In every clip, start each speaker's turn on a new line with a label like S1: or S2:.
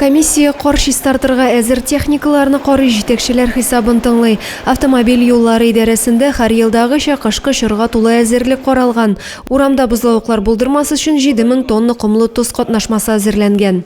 S1: Комиссия кар чистартырга әзер техникаларны карый, җитәкчеләр хисабын тыңлый. Автомобиль юллары идарәсендә һәр елдагыча кышкы чорга тулы әзерлек каралган. Урамда бозлавыклар булдырмас өчен 7 мең тонна комлы тоз катнашмасы әзерләнгән.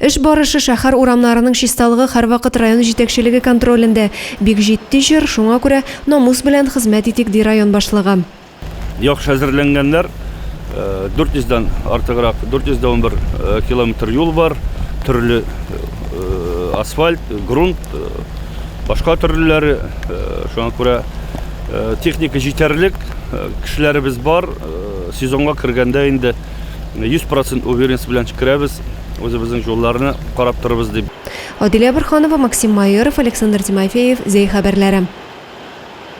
S2: Эш
S1: барышы шәһәр урамнарының чисталыгы һәрвакыт район җитәкчелеге контролендә. Бик җитди чор, шуңа күрә намус белән хезмәт итик, ди район башлыгы. Яхшы
S3: әзерләнгәннәр, 400 дән артыграк, 411 километр юл бар, төрле асфальт, грунт, башка төрлеләре, шуңа күрә техника җитәрлек, кешеләребез бар, сезонга кергәндә инде. 100 процент уверенность белән керәбез, үзебезнең юлларны карап торабыз дип. Адилә
S1: Борханова, Максим Майоров, Александр Тимофеев, Зәй
S3: хәбәрләре.